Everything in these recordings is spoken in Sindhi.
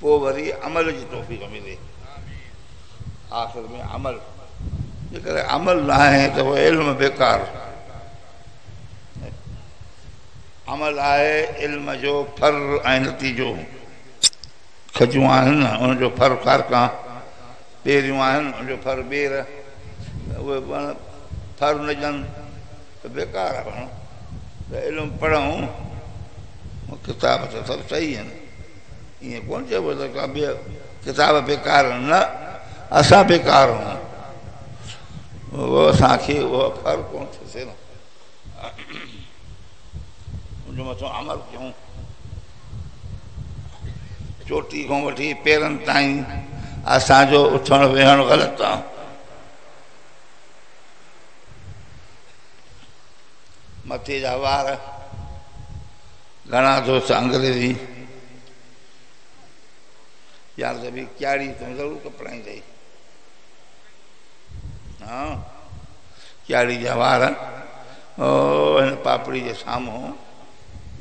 پوء وري عمل جي توفيق ملي آخر ۾ عمل جيڪڏهن عمل نه آهي ته هو علم بيڪار عمل آهي علم جو ڦر ۽ نتيجو کجون آهن ان جو ڦر کارڪا پيريون آهن ان جو ڦر ٻير اهي ڦر نه ڄن ته بيڪار آ پاڻ ته علم پڙهون ڪتاب ته سڀ صحيح آهن ائين ڪونه چئبو ته ڪا ٻيا ڪتاب بيڪار آهن نه اسان بيڪار آهون اهو اسان کي اهو فرق ڪونه ٿو ٿئي نه ان جو مٿو عمل ڪيون چوٽي کان وٺي پيرن تائين اسان جو اٿڻ ويهڻ غلط آهي مٿي جا وار گھڻا دوست انگريزي يار ته به کياڙي تون ضرور کپرائين ٿي ها کياڙي جا وار او هن پاپڙي جي سامهون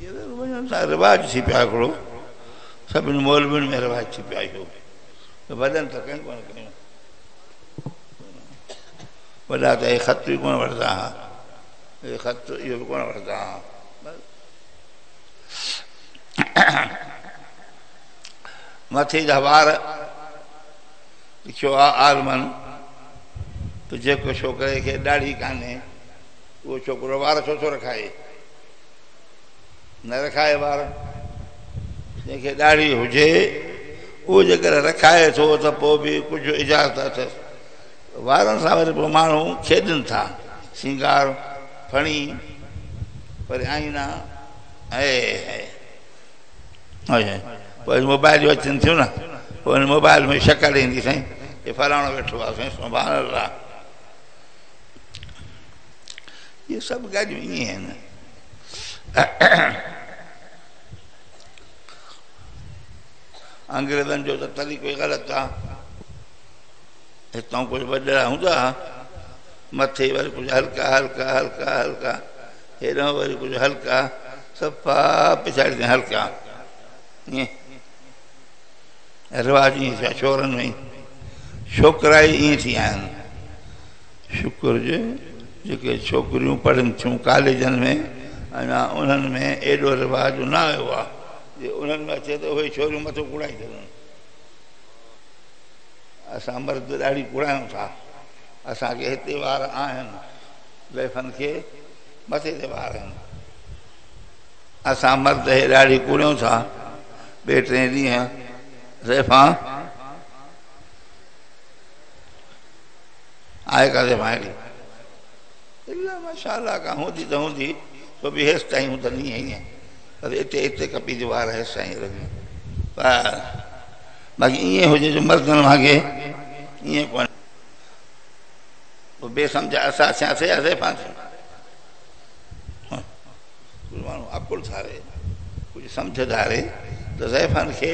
یہ ضرور وڃن ٿا رواج ٿي پيا هڪڙو سڀني مولوين ۾ رواج ٿي پيا اهو وڏن ته ڪنهن ڪونه ڪيون وڏا ته اهي خط به ڪونه وٺندا ها. اهي خط اهو به ڪونه وٺندا ها. مٿي جا وار لکيو آ عالمن ته جيڪو ڇوڪري کي ڏاڙهي ڪانهي اهو ڇوڪرو وار ڇو ٿو رکائي؟ نه رکائي وار. جنهن کي ڏاڙهي هجي اهو جيڪڏهن رکائي ٿو ته پوء به ڪجهه اجازت اٿس. وارن سان وري پوء ماڻهو کيڏن ٿا. سينگار ڦڻي وري آئينا هي هي هي پوء موبائل جو اچن ٿيون نه پوء ان موبائل ۾ شڪل ايندي سائين هي فلاڻو ويٺو آهي سائين سبحان الله اهي سڀ ڳالهيون ائين آهن انگريزن جو ته طريقو غلط آهي هتان ڪجهه وڏڙا هوندا ها، مٿي وري ڪجهه هلڪا هلڪا هلڪا هلڪا، هيڏانهن وري ڪجهه هلڪا، صفا پڇاڙي تائين هلڪا. ائين رواج ائين ٿيا ڇورن ۾ ڇوڪرا ئي ائين ٿي آهن. شڪر جو جيڪي ڇوڪريون پڙهن ٿيون ڪاليجن ۾ اڃا انهن ۾ ايڏو رواج نه آيو آهي، جي انهن ۾ اچي ته اهي ڇوريون مٿو ڪوڙائي ڇڏن. اسان مرد ڏاڙهي ڪوڙايون ٿا. اسان کي هتي وار آهن. زيفن کي مٿي تي وار آهن. اسان مرد هي ڏاڙهي ڪوڙيون ٿا. ٻئي ٽئين ڏينهن زيفان آهي ڪا زيفان اهڙي. الا ماشاء الله ڪا هوندي ته هوندي سو به هيس تائين هون ته نيهين پر اتي اتي ڪپي جو وار هيس سائين رڳي. باقي ائين هجي جو مردن وانگي ائين ڪونه بي سمجھا اسا سيا سي اسي پانچ مانو عقل ٿاري ڪجھ سمجھ ٿاري ته زيفان کي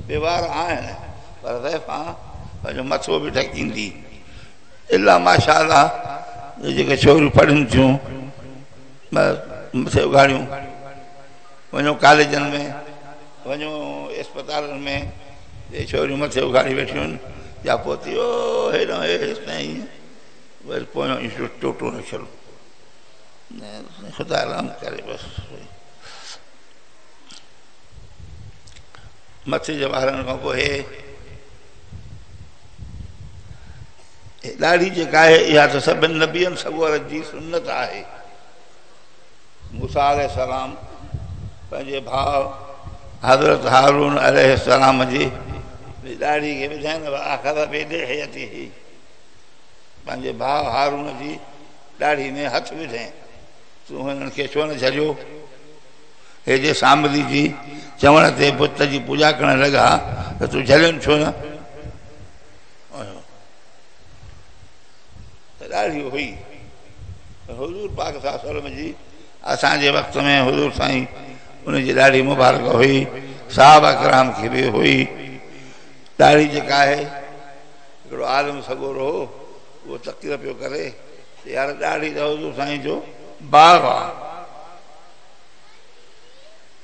بيوار آهن پر زيفا پنهنجو مٿو به ڍڪيندي الا ماشاء الله جيڪي ڇوريون پڙهن ٿيون مٿي اگھاڙيون وڃو ڪاليجن ۾ وڃو اسپتالن ۾ اهي ڇوريون مٿي اگهاڙي ويٺيون آهن يا پوتي او هيڏانهن هي هيستائين ائين وري پويان ايشور ٽوٽو رکيل خدا رحم ڪري بس مٿي جي وارن کان پوء هي ڏاڙهي جيڪا آهي اها ته سڀني نبين سڳورن جي سنت آهي موسيٰ عليه السلام پنهنجي ڀاء حضرت هارون عليه السلام جي ڏاڙهي کي ٻڌائين واخذ بلحيته پنهنجي ڀاء هارون جي ڏاڙهي ۾ هٿ وڌين تون هنن کي ڇو نه جهليو هي جي سامري جي چوڻ تي بت جي پوڄا ڪرڻ لڳا ته تون جهلين ڇو نه ته ڏاڍي هئي پر حضور پاڪ صلي الله عليه وسلم جي اسان جي وقت ۾ حضور سائين ان جي ڏاڙهي مبارڪ هئي صحابه ڪرام کي به هئي ڏاڙهي جيڪا آهي هڪڙو عالم سڳورو هو اهو تقرير پيو ڪري ته يار ڏاڙهي ته حضور سائين جو باغ آهي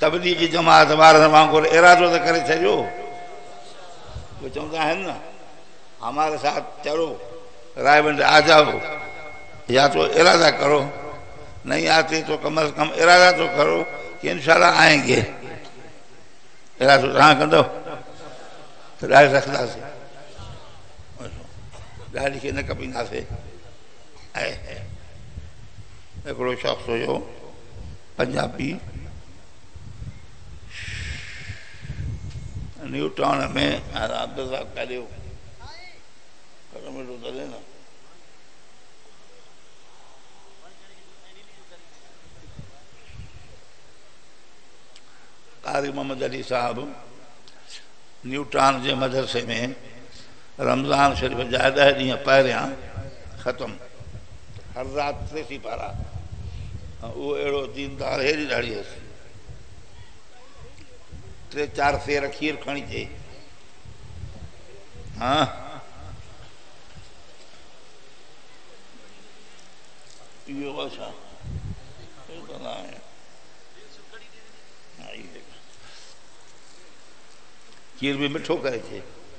تبليغي جماعت وارن وانگر ارادو ته ڪري ڇڏيو اهي چوندا آهن نه هماري ساٿ چلو رائي ونڊ آجائو يا تو ارادا ڪرو نئي آتي تو ڪم از ڪم ارادا تو ڪرو ڪي انشاءالله آئين گي ارادو تهان ڪندو ڏاڙهي رکندا سي ڏاڙهي کي نه ڪپيندا سي هڪڙو شخص هيو پنجابي نيو ٽاون ۾ عبدالرزاق ڪاليو قاري محمد علي صاحب نيو ٽاون جي مدرسي ۾ رمضان شريف جا ڏهه ڏينهن پهريان ختم هر رات ٽي سيپارا اهو اهڙو ديندار هيري ڏاڙهي هيس ٽي چار سير کير کڻي چي ها اهو ورسا کير به مٺو ڪري چي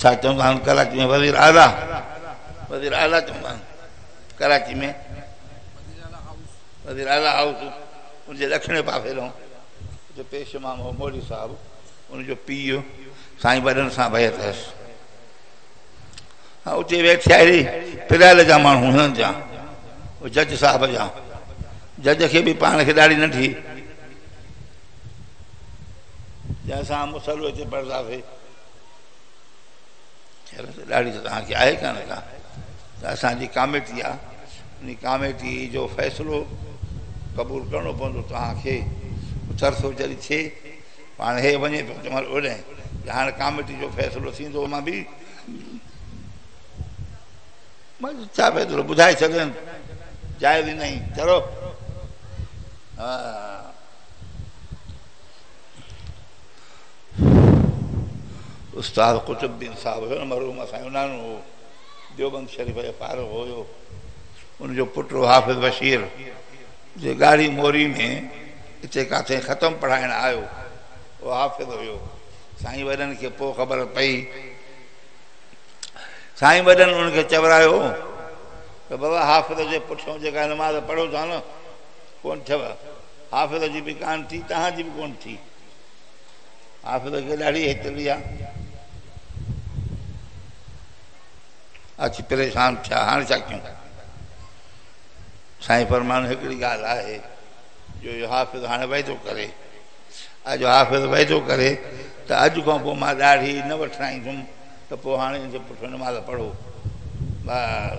ڇا چوندا آهن ڪراچي ۾ وزير اعليٰ وزير اعليٰ چوندا آهن ڪراچي ۾ وزير اعليٰ هائوس ان جي ڏکڻي پاسي رهون جو پيش امام هو مولي صاحب ان جو پيء سائين وڏن سان بيت هيس ها اتي ويٺي آهي پريل جا ماڻهو هنن جا جج صاحب جا جج کي به پاڻ کي ڏاڍي ننڍي جنهن سان مصلو اچي پڙهنداسي ڏاڙهي ته توهان کي آهي ڪانه ڪا ته اسان جي ڪاميٽي آهي ان ڪاميٽي جو فيصلو قبول ڪرڻو پوندو توهان کي ترسو جڏهن ٿئي پاڻ هي وڃي پيو ته مال اوڏانهن ته هاڻي ڪاميٽي جو فيصلو ٿيندو مان به مان چا پيو ٿورو ٻڌائي ڇڏيم جائز نه چلو استاد قطب الدين صاحب هيو نه مرحوم اسان جو نانو هو ديوبند شريف جو فارغ هيو ان جو پٽ هو حافظ بشير جي ڳاڙهي موري ۾ اتي ڪاٿي ختم پڙهائڻ آيو هو حافظ هيو سائين وڏن کي پوء خبر پئي سائين وڏن ان کي چورايو ته بابا حافظ جي پٺيان جيڪا نماز پڙهو ٿا نه ڪونه ٿيو، حافظ جي به ڪانه ٿي، توهان جي به ڪونه ٿي. حافظ کي ڏاڍي هيتري آ. اچي پريشان ٿيا، هاڻي ڇا ڪيون؟ سائين فرمان هڪڙي ڳالهه آهي جو اهو حافظ هاڻي وعدو ڪري، اڄ حافظ وعدو ڪري ته اڄ کان پوء مان ڏاڙهي نه وٺرائيندم ته پوء هاڻي ان جي پٺيان نماز پڙهو. بس!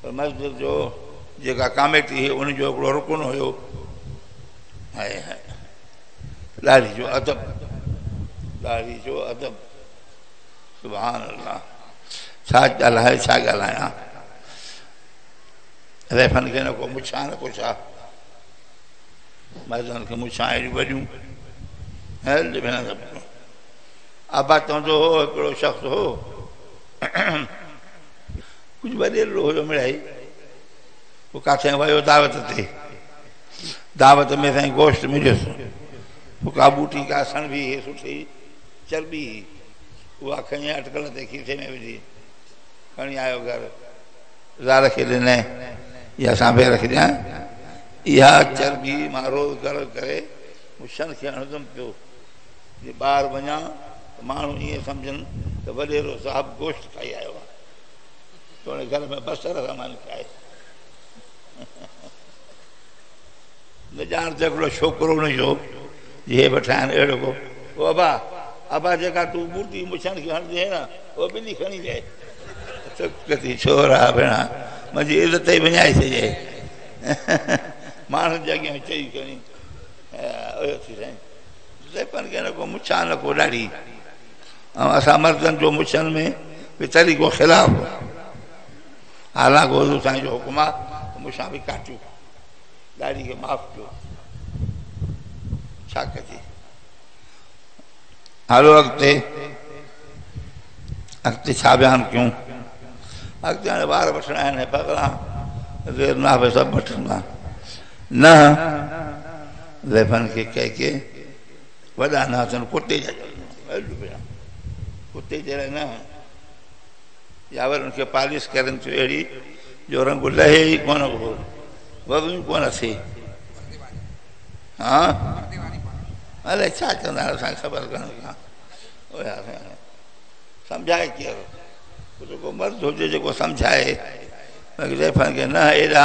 پر مسجد جو جيڪا ڪاميٽي هئي ان جو هڪڙو رڪن هيو هاي هاي ڏاڙهي جو ادب ڏاڙهي جو ادب سبحان الله ڇا ڳالهائي ڇا ڳالهايان ريفن کي نه کو مڇا نه کو ڇا مردن کي مڇا اهڙيون وڏيون هل بنا سڀ ابا چوندو هو هڪڙو شخص هو ڪجهه وڏيرڙو هيو مڙهائي پوء ڪاٿئان ويو دعوت تي دعوت ۾ سائين گوشت مليس پوء ڪا ٻوٽي ڪا سڻ به هي سٺي چرٻي هي اها کڻي اٽڪل تي کيسي ۾ وجهي کڻي آيو گهر زال کي ڏنئين اها سانڀي رکجان اها چرٻي مان روز گهر ڪري مون شن کي هڻندم پيو جي ٻاهر وڃان ته ماڻهو ائين سمجهن ته وڏيرو صاحب گوشت کائي آيو آهي توڙي گهر ۾ بصر رحمان کي آهي نجار جو هڪڙو ڇوڪرو هن جو جي بٺايان اهڙو ڪو او ابا ابا جيڪا تو مورتي مڇن کي هڻ دي نه او بلي کڻي جي تڪتي ڇورا ڀيڻا منهنجي عزت ئي وڃائي سجي ماڻهن جي اڳيان چئي کڻي اهو ٿي سائين زيپن کي نه ڪو مڇان نه ڪو ڏاڙي ۽ اسان مردن جو مڇن ۾ به طريقو خلاف هو. حالانڪ حضور سائين جو حڪم آ ته مڇان به ڪاٽيو، ڏاڙهي کي معاف ڪيو. ڇا ڪجي؟ هلو اڳتي، اڳتي ڇا بيان ڪيون؟ اڳتي هاڻي وار وٺڻا آهن ۽ بغلان زير ناهه سڀ وٺندا. نه، زيفن کي ڪهي ڪي. وڏا نه اٿن ڪتي جا اڏ پيا ڪتي جهڙا نه يا ور ان کي پالش ڪرن ٿيو اهڙي جو رنگ لهي ئي ڪون هو وڳ ئي ڪون ٿي ها الائي ڇا چوندا آهن اسان خبر ڪانه ڪا اوئي اسان سمجھائي ڪير ڪجهه ڪو مرد هجي جيڪو سمجھائي باقي زيفن کي نه ايڏا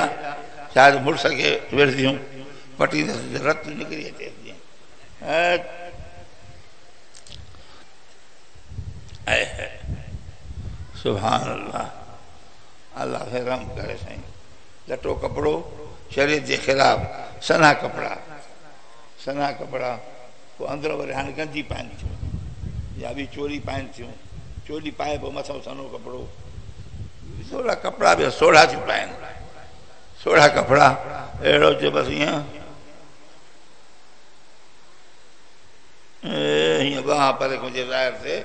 شايد مڙس کي ويڙهنديون پٽيندس رت نڪري اچي سبحان الله الله کي رحم ڪري سائين لٽو ڪپڙو شريعت جي خلاف سنا ڪپڙا سنا ڪپڙا پو اندر وري هاڻي گنجي پائن ٿيون يا به چوري پائن ٿيون چوري پائي پو مٿو سنو ڪپڙو سوڙا ڪپڙا به سوڙا ٿي پائن سوڙا ڪپڙا اهڙو جو بس ائين ائين ٻانهن پري کان جي ظاهر ٿئي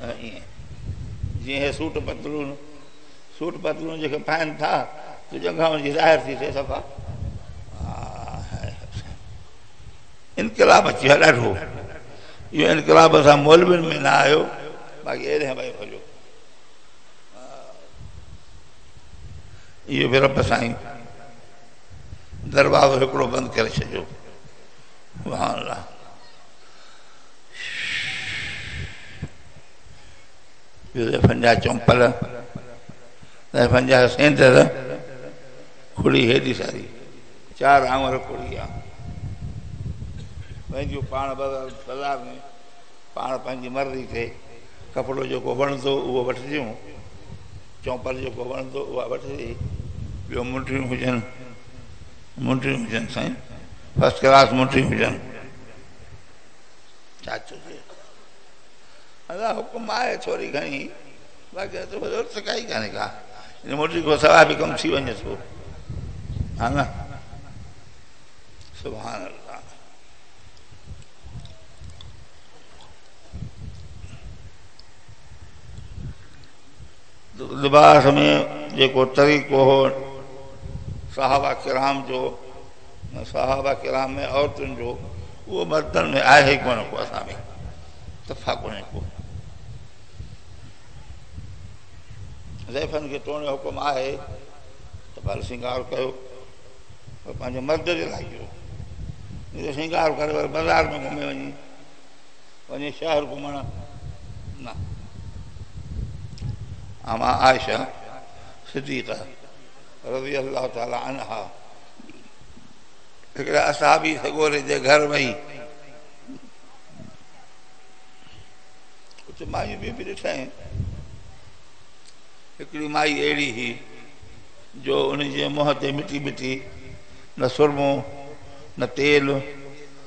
ائين جيئن هي سوٽ پتلون سوٽ پتلون جيڪي پائن ٿا تو جنگهاون جي ظاهر ٿي ٿئي صفا انقلاب اچي ويو ڏاڍو اهو انقلاب اسان مولوين ۾ نه آيو باقي اهڙي هوائي هليو اهو به رب سائين دروازو هڪڙو بند ڪري ڇڏيو سبحان الله زيفن جا چمپل زيفن جا سيندر کڙي هيڏي ساري چار آمر کڙي آ پنهنجو پاڻ بازار ۾ پاڻ پنهنجي مرضي تي ڪپڙو جيڪو وڻندو اهو وٺجيون چونپر جيڪو وڻندو اها وٺجي. ٻيو منڊيون هجن منڊيون هجن سائين فرسٽ ڪلاس منڊيون هجن ڇا چئجي ادا حڪم آهي ٿوري گهڻي باقي هت ضرورت ته ڪائي ڪانهي ڪا ان منڊي کان سواء به ڪم ٿي وڃي ٿو ها نه سبحان الله لباس ۾ جيڪو طريقو هو صحابه ڪرام جو ۽ صحابه ڪرام ۾ عورتن جو اهو مردن ۾ آهي ڪونه ڪو اسان ۾ تفا ڪونه ڪو زيفن کي توڻي حڪم آهي ته ڀل سنگار ڪيو پر پنهنجي مرد جي لاء ڪيو سنگار ڪري وري بازار ۾ گهمي وڃي وڃي شهر گهمڻ نه. ام عائشه صديقه رضي الله تعالٰي عنها هڪڙي اصحابي سڳوري جي گهر وئي اتي مايون ٻيون به ڏٺائين هڪڙي مائي اهڙي هئي جو ان جي منهن تي مٽي مٽي نه سرمو نه تيل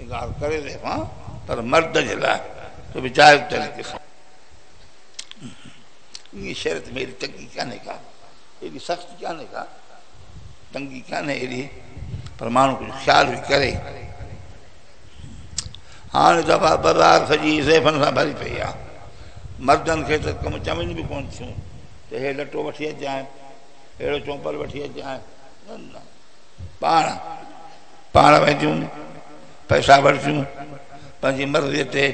انڪار ڪري رهيو آهيان پر مرد جي لاء ته به جائز طريقي سان ائين شرط ۾ ايڏي تنگي ڪانهي ڪا ايڏي سختي ڪانهي ڪا تنگي ڪانهي ايڏي پر ماڻهو ڪجهه خيال به ڪري هاڻي دفعا بازار سڄي زيفن سان ڀري پئي آ مردن کي ته ڪم چوين به ڪون ٿيون ته هي لٽو وٺي اچجانء اهڙو چومپل وٺي اچجانء نه نه پاڻ پاڻ وينديون پئسا ورتيون پنهنجي مرضي تي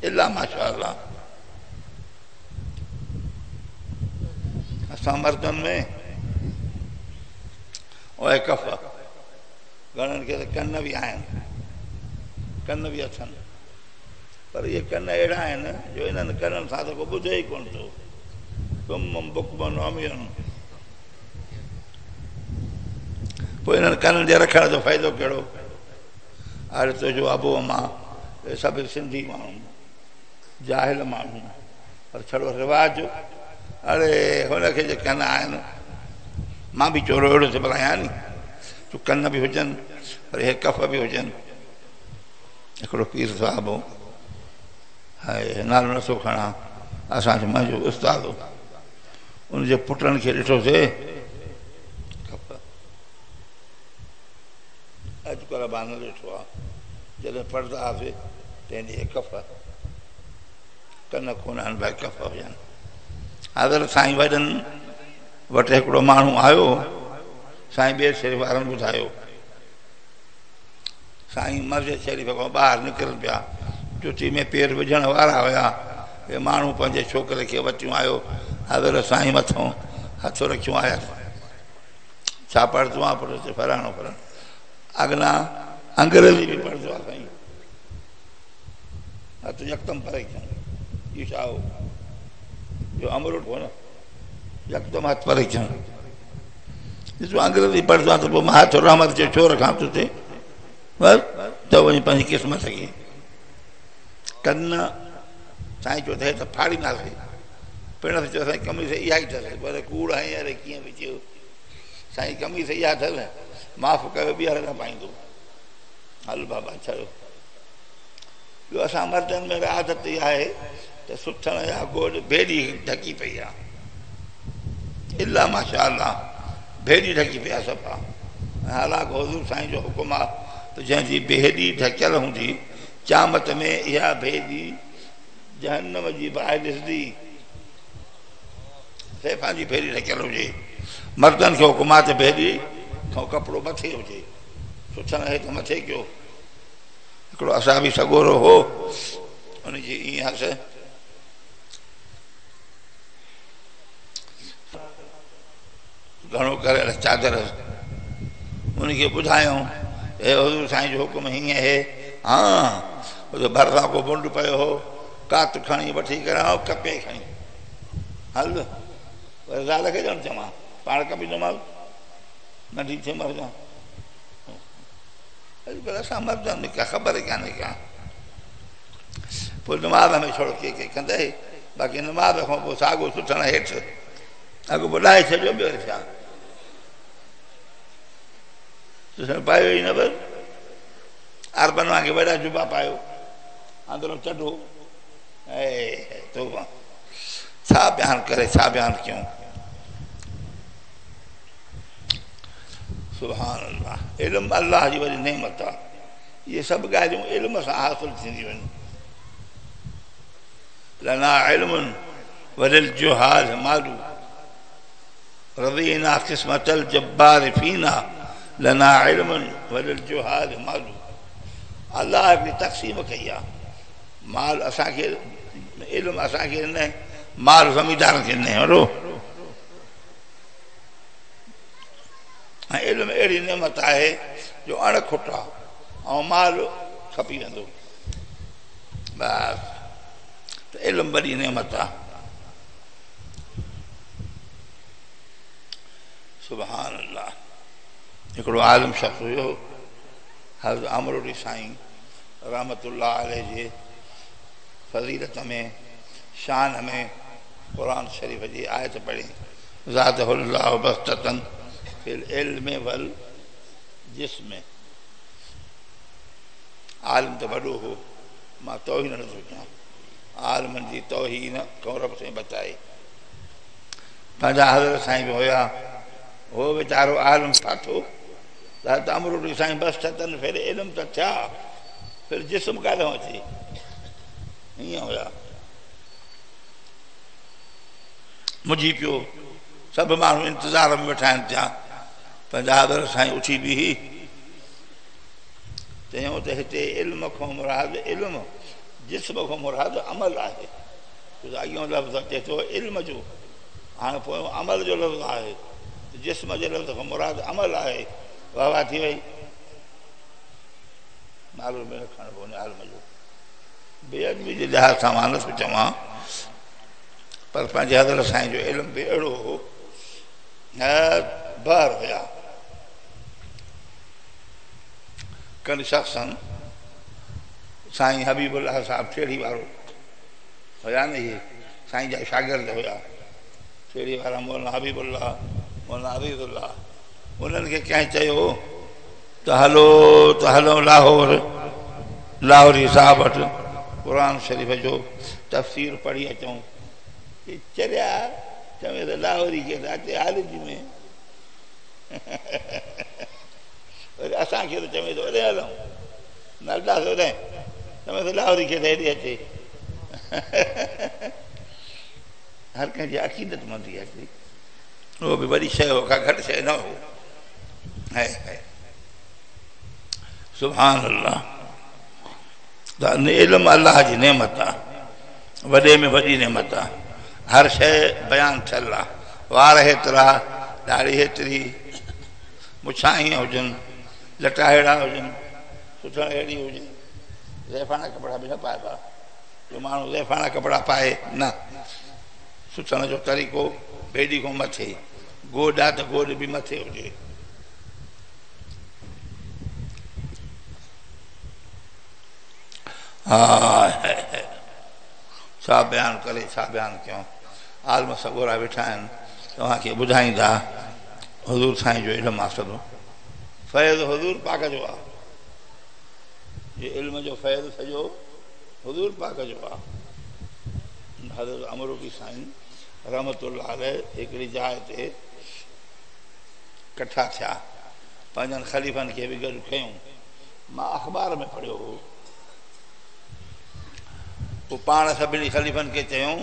الا ماشاء الله اسان مردن ۾ اوهي ڪف گھڻن کي ته ڪن به آهن ڪن به اٿن پر اهي ڪن اهڙا آهن جو انهن ڪنن سان ته ڪو ٻڌي ئي ڪونه ٿو ڪم بڪمن عمين پوء انهن ڪنن جي رکڻ جو فائدو ڪهڙو؟ آڙي تنهنجو ابو امان اهي سڀ سنڌي ماڻهو جاهل ماڻهو پر ڇڙو رواج اڙي هن کي جي ڪن آهن مان به چورو اهڙو ٿي بلايان آهيان ني جو ڪن به هجن پر اهي ڪف به هجن هڪڙو پير صاحب هو نالو نٿو کڻان اسان جو منهنجو استاد هو ان جي پٽن کي ڏٺو سي اڄ ڪل مان نه ڏٺو آ جڏهن پڙهندا هئاسي تنهن ڏينهن ڪف ڪن ڪونه هن ڀاء ڪف هجن حضرت سائين وڏن وٽ هڪڙو ماڻهو آيو سائين ٻئي سر وارن ٻڌايو سائين مسجد شريف کان ٻاهر نڪرن پيا. چٽي ۾ پير وجهڻ وارا هيا. اهي ماڻهو پنهنجي ڇوڪري کي وتيون آيو. حضرت سائين مٿو هٿ رکيون آيس. ڇا پڙهه آ پٽ چي فلاڻو فلاڻو. اگنا انگريزي به پڙهه آ سائين. هٿ يڪدم پري ڪيون. ايشائو جو امرو ڪونه. يڪدم هٿ پري ٿيون ڏسو انگريزي پڙهندو آهيان ته پوء مان هٿ رحمت جو ڇو رکان تو تي بس ته وڃي پنهنجي قسمت کي ڪن سائين چيو اٿائي ته ڦاڙي نه سي پڻ اٿ چيو سائين کمي سي اها ئي اٿس پر ڪوڙ هين اري کيان به چيو سائين کمي سي اها اٿس معاف ڪيو ٻيهر نه پائيندو هل بابا ڇڏو ٻيو اسان مردن ۾ به عادت اها آهي ته سٿڻ يا گوڏ ڀيڏي ڍڪي پئي آ الا ماشاء الله ڀيڏي ڍڪي پئي آ صفا ۽ حالانڪ حضور سائين جو حڪم آ ته جنهن جي ڀيڏي ڍڪيل هوندي قيامت ۾ اها ڀيڏي جهنم جي باهه ڏسندي سيفان جي ڀيڏي ڍڪيل هجي مردن کي حڪم آ ته ڀيڏي کان ڪپڙو مٿي هجي سٿڻ هيٺ مٿي ڪيو هڪڙو اصحابي سڳورو هو ان جي ائين هس گهڻو ڪري اهڙا چادر ان کي ٻڌايون اي حضور سائين جو حڪم هيئن هي ها جو ڀرسان ڪو بنڊ پيو هو ڪات کڻي وٺي ڪري آئو ڪپي کڻي هل وري زال کي ڄڻ چمان پاڻ ڪپي ڏمال ننڍي ٿي مر جان اڄ ڪلهه اسان مردن ۾ ڪا خبر ئي ڪانهي ڪا. پوء نماز ۾ ڇڙ ڪي ڪي ڪندئي، باقي نماز کان پوء ساڳو سٿڻ هيٺ اڳ ٻڏائي ڇڏيو ٻيو ڇا. تسين پايو ئي نه بس عربن وانگي وڏا جبا پايو اندرون چڍو اي توبه ڇا بيان ڪري ڇا بيان ڪيون. سبحان الله علم الله جي وڏي نعمت آ اهي سڀ ڳالهيون علم سان حاصل ٿينديون آهن لنا علم وللجهال مالو رضينا قسمت الجبار فينا لنا علم وللجهال مالو الله هڪڙي تقسيم ڪئي آ مال اسان کي علم اسان کي نه مال زميندارن کي نه هرو ۽ علم اهڙي نعمت آهي جو اڻ کٽا ۽ مال کپي ويندو بس ته علم وڏي نعمت آ سبحان الله هڪڙو عالم شخص هيو حضرت امروڙي سائين رحمت الله عليه جي فضيلت ۾ شان ۾ قرآن شريف جي آيت پڙهي زاده الله بسطة في العلم والجسم عالم ته وڏو هو مان توهين نه ٿو ڪيان عالمن جي توهين کان رب سائين بچائي پنهنجا حضرت سائين به هيا هو ويچارو عالم ڪاٿو ته امرو ڏي سائين بس ستن ڦير علم ته ٿيا ڦير جسم ڪاڏو اچي ائين هيا منجهي پيو، سڀ ماڻهو انتظار ۾ ويٺا آهن تيان پنهنجا حضرت سائين اٿي بيهي چيو ته هتي علم کان مراد علم جسم کان مراد عمل آهي اڳيون لفظ اچي ٿو علم جو هاڻ پويون عمل جو لفظ آهي جسم جي لفظ کان مراد عمل آهي واهه واهه ٿي وئي نالو به رکڻ پوندو عالم جو بي ادبي جي لحاظ سان مان نٿو چوان پر پنهنجي حضرت سائين جو علم به اهڙو هو نهايت بحر هيا ڪن شخصن سائين حبيب الله صاحب ٺيڙهي وارو هيا نه اهي سائين جا شاگرد هيا ٺيڙهي وارا مولانا حبيب الله مولانا عبيد الله انهن کي ڪنهن چيو ته هلو ته هلون لاهور لاهوري صاحب وٽ قرآن شريف جو تفسير پڙهي اچون. چي چريا چوين ته لاهوري کي ته اچي هالي جي ۾ وري اسان کي ته چوين ته هوڏي هلون نه هلندا سي هوڏي چوين ته لاهوري کي ته هيڏي اچي هر ڪنهن جي عقيدت مندي آهي اهو به وڏي شيء هو ڪا گهٽ شيء نه هو هائي هائي سبحان الله دا علم الله جي نعمت آ وڏي ۾ وڏي نعمت آ هر شيء بيان ٿيل آ وار هيترا ڏاڙهي هيتري مڇان هيئن هجن لٽا هيڙا هجن سوچڻ هيڙي هجي زيفاڻا ڪپڙا به نه پائبا جو ماڻهو زيفاڻا ڪپڙا پائي نه سوچڻ جو طريقو بيدي کان مٿي گوڏ آ ته گوڏ به مٿي هجي. هاء هاء هاء ڇا بيان ڪري ڇا بيان ڪيون عالم سڳورا ويٺا آهن توهان کي ٻڌائيندا حضور سائين جو علم آ سڀ فيض حضور پاڪ جو آ جي علم جو فيض سڄو حضور پاڪ جو آ حضرت امروٽي سائين رحمة الله عليه هڪڙي جاء تي ڪٺا ٿيا. پنهنجن خليفن کي به گڏ ڪيون. مان اخبار ۾ پڙهيو هو. پوء پاڻ سڀني خليفن کي چيم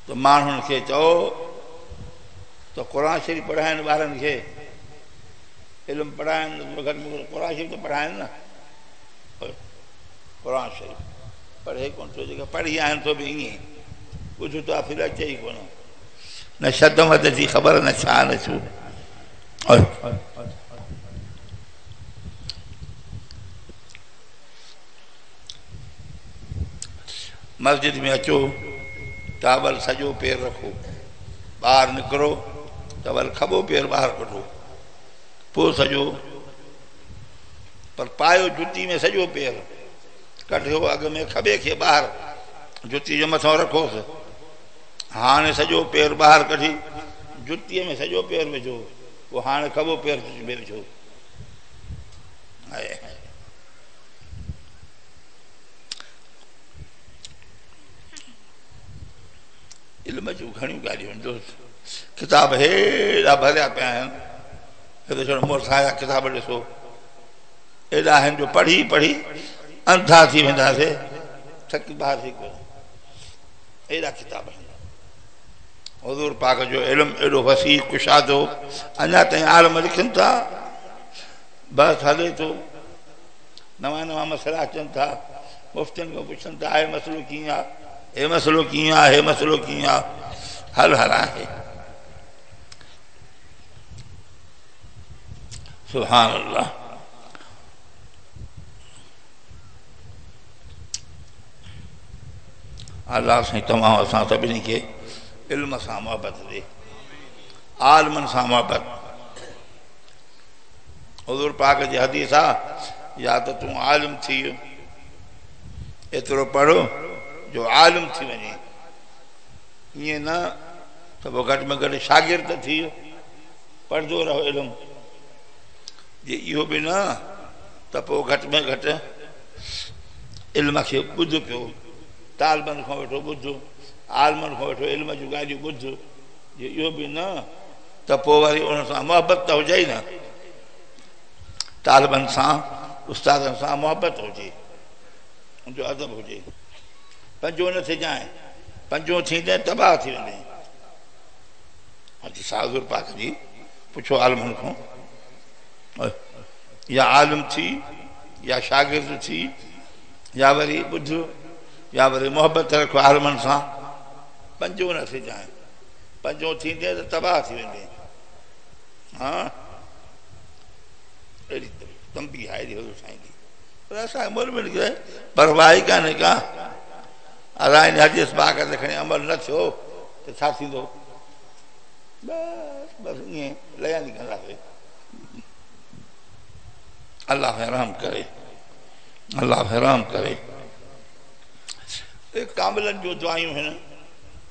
ته ماڻهن کي چئو ته قرآن شريف پڙهائين ٻارن کي. علم پڙهائين ته گهٽ ۾ گهٽ قرآن شريف ته پڙهائين نه. قرآن شريف پڙهي ڪونه ٿو جيڪا پڙهي آهن سو به ائين ئي ٻڌ تو آخر اچي ئي ڪونه نه شد مد جي خبر نه ڇا نه ڇو مسجد ۾ اچو ٽاول سڄو پير رکو ٻاهر نڪرو ٽاول کٻو پير ٻاهر ڪڍو پوء سڄو پر پايو جتي ۾ سڄو پير ڪڍيو اڳ ۾ کٻي کي ٻاهر جتي جي مٿان رکوس هاڻي سڄو پير ٻاهر ڪڍي جتي ۾ سڄو پير وجهو پوء هاڻي کٻو پير جتي ۾ وجهو علم جون گهڻيون ڳالهيون دوست ڪتاب هيڏا ڀريا پيا آهن هڪ ڇڙ مون وٽ سايا ڪتاب ڏسو، ايڏا آهن جو پڙهي پڙهي انڌا ٿي وينداسي، ٿڪي بار ٿي پئي ايڏا ڪتاب آهن. حضور پاڪ جو علم ايڏو وسيع ڪشادو اڃا تائين عالم لکن ٿا بحث هلي ٿو نوان نوان مسئلا اچن ٿا مفتين کان پڇن ٿا هي مسئلو ڪيئن آ هي مسئلو ڪيئن آ هي مسئلو ڪيئن آ حل هل آهي سبحان الله الله سائين تمام اسان سڀني کي علم سان محبت ڏي عالمن سان محبت حضور پاک جي حديث آ يا ته تون عالم ٿي ايترو پڙهو جو عالم ٿي وڃي ائين نه ته پوء گهٽ ۾ گهٽ شاگرد ته ٿي پڙهندو رهو علم، جي اهو به نه ته پوء گهٽ ۾ گهٽ علم کي ٻڌ پيو، طالبن کان ويٺو ٻڌ، عالمن کان ويٺو علم جون ڳالهيون ٻڌ، جي اهو به نه ته پوء وري انهن سان محبت ته هجئي نه، طالبن سان استادن سان محبت هجي، ان جو ادب هجي. پنجون نه ٿجانء، پنجون ٿيندين تباهه ٿي ويندين. حديث آء حضور پاڪ جي، پڇو عالمن کان، يا عالم ٿي، يا شاگرد ٿي، يا وري ٻڌ، يا وري محبت رک عالمن سان، پنجون نه ٿجانء، پنجون ٿيندين ته تباهه ٿي ويندين. ها اهڙي تنبيهه آهي حضور سائين جي. پر اسان عمل ۾ نڪري پرواهي ڪانهي ڪا ادا ان حديث پاڪ تي کڻي عمل نه ٿيو ته ڇا ٿيندو بس بس ائين ليان ٿي ڪنداسي الله رحم ڪري الله رحم ڪري ڪاملن جو دعائيون هن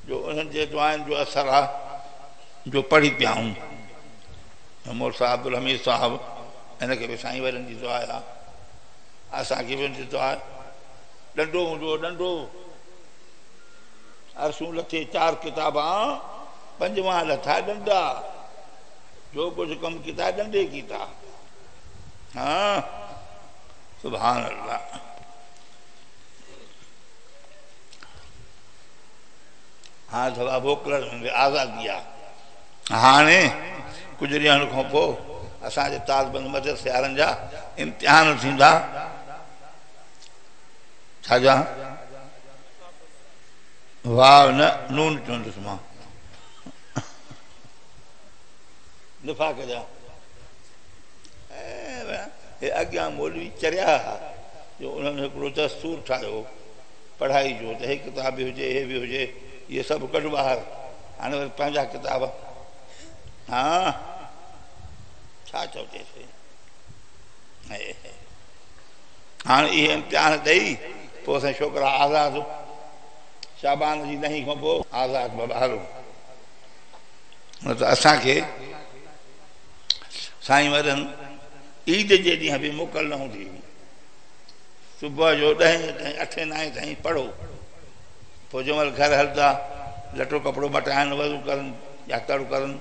جو انهن جي دعائن جو اثر آ جو پڙهي پيا آهون مور صاحب عبدالحميد صاحب هن کي به سائين وارن جي دعا آ اسان کي به هن جي دعا ڏنڊو هوندو هو ڏنڊو عرصون لٿي چار ڪتاب آ پنجوان لٿا ڏنڊا جو ڪجھ ڪم ڪيتا ڏنڊي ڪيتا ها سبحان الله ها ٿوابو ڪلر آزادي آ هاڻي ڪجهه ڏينهن کان پوء اسان جي طالبن مدد سيارن جا امتحان ٿيندا. ڇا جا؟ واو نه نون چوندس مان. نفاق جا هي اڳيان مولوي چريا ها جو انهن هڪڙو دستور ٺاهيو پڙهائي جو ته هي ڪتاب به هجي هي به هجي اهي سڀ ڪڍ ٻاهر هاڻي وري پنهنجا ڪتاب هان ڇا چوجيسين هاڻي اهي امتحان ڏئي پوء اسان ڇوڪرا آزاد شابان جي ڏهين کان پوء آزاد بابا هلو نه ته اسانکي سائين وڏن عيد جي ڏينهن به موڪل نه هوندي هئي صبح جو ڏهين تائين اٺين نائين تائين پڙهو فوجون ول گهر هلدا، لٽو ڪپڙو مٽائن، وضو ڪرن يا تڙ ڪرن.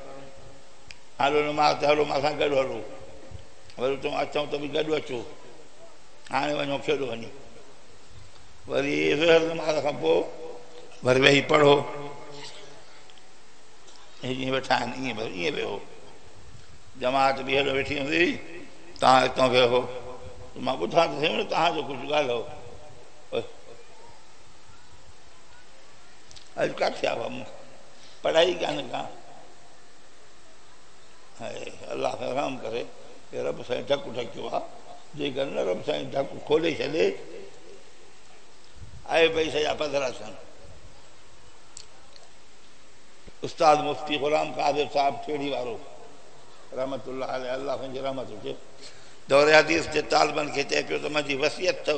هلو نماز تي هلو، مان سان گڏ هلو. ول اتان اچون ته به گڏ اچو. هاڻي وڃو کيڏو وڃي. وري ظهر نماز کان پوء وري ويهي پڙهو. هي جيئن ويٺا آهن ائين بس ائين ويهو. جماعت به هيڏو ويٺي هوندي، توهان اتان ويهو. مان ٻڌان ته سهي نه توهان جو ڪجهه ڳالهيو. اڄ ڪاٿي آ مون کي پڙهائي ڪانه ڪا الله کي رحم ڪري هي رب سائين ڍڪ ڍڪيو آ جيڪر نه رب سائين ڍڪ کولي ڇڏي آئي بئي سجا پڌرا ٿين استاد مفتي غلام قادر صاحب ٺيڙي وارو رحمت الله عليه الله سائين جي رحمت هجي دور حديث جي طالبن کي چئي پيو ته منهنجي وصيت اٿو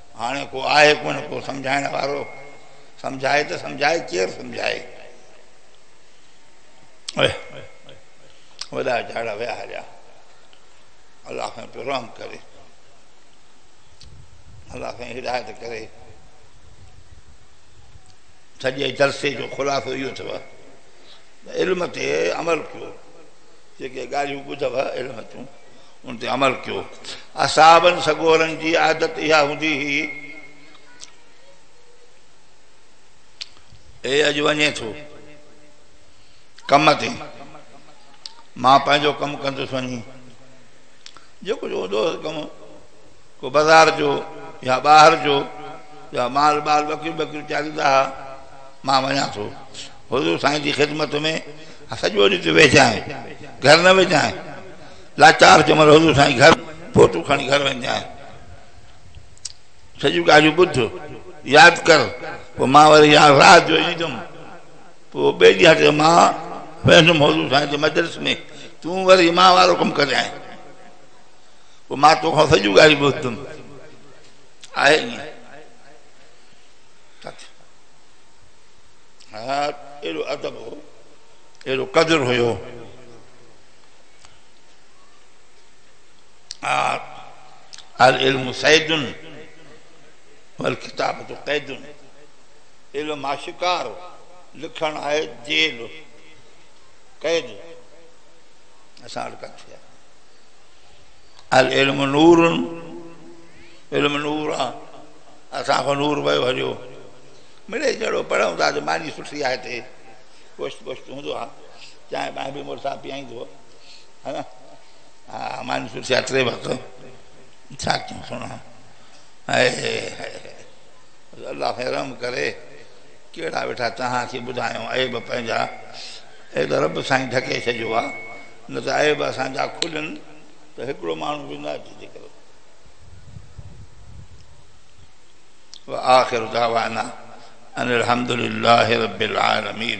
هاڻي ڪو آهي ڪونه ڪو سمجهائڻ وارو، سمجهائي ته سمجهائي ڪير سمجهائي. وڏا جهاڙا ويا هليا. الله سائين پيو رحم ڪري. الله سائين هدايت ڪري. سڄي جلسي جو خلاصو اهو اٿو علم تي عمل ڪيو جيڪي ڳالهيون ٻڌو علم تون ان تي عمل ڪيو. اصحابن سڳورن جي عادت اها هوندي هئي. اي اڄ وڃين ٿو ڪم تي، مان پنهنجو ڪم ڪندس وڃي. جيڪو جو هوندو هوس ڪم، ڪو بازار جو يا ٻاهر جو يا مال ٻال ٻڪريون ٻڪريون چاريندا ها، مان وڃان ٿو حضور سائين جي خدمت ۾، سڄو ڏينهن تون ويهجانء، گهر نه ويجانء. لاچار ڪمر حضور سائين گهر فوٽو کڻي گهر ويندي آهي سڄيون ڳالهيون ٻڌ ياد ڪر پوء مان وري يا رات جو ايندم پوء ٻئي ڏينهن تي مان ويندم حضور سائين جي مجلس ۾ تون وري مان وارو ڪم ڪريائين پوء مان توکان سڄيون ڳالهيون ٻڌدم آهي ائين اهڙو ادب هو اهڙو قدر هيو العلم صيد والڪتابت قيد علم آ شڪار لکڻ آهي جيل قيد اسان وٽ ڪٿي آهي العلم نور علم نور آ اسان کان نور ويو هليو مڙي جهڙو پڙهون ٿا جو ماني سٺي آهي تي پشت پشت هوندو آ چانهه ٻانهه به مڙس آء پيئائينس هو ها نه ها ماني سٺي آ ٽي وقت ڇا ڪيون سهڻا هائي هائي الله کي رحم ڪري ڪهڙا ويٺا توهان کي ٻڌايون عيب پنهنجا اي ته رب سائين ڍڪي ڇڏيو آ نه ته عيب اسان جا کلن ته هڪڙو ماڻهو به نه اچي ذڪر وآخر دعوانا ان الحمد لله رب العالمين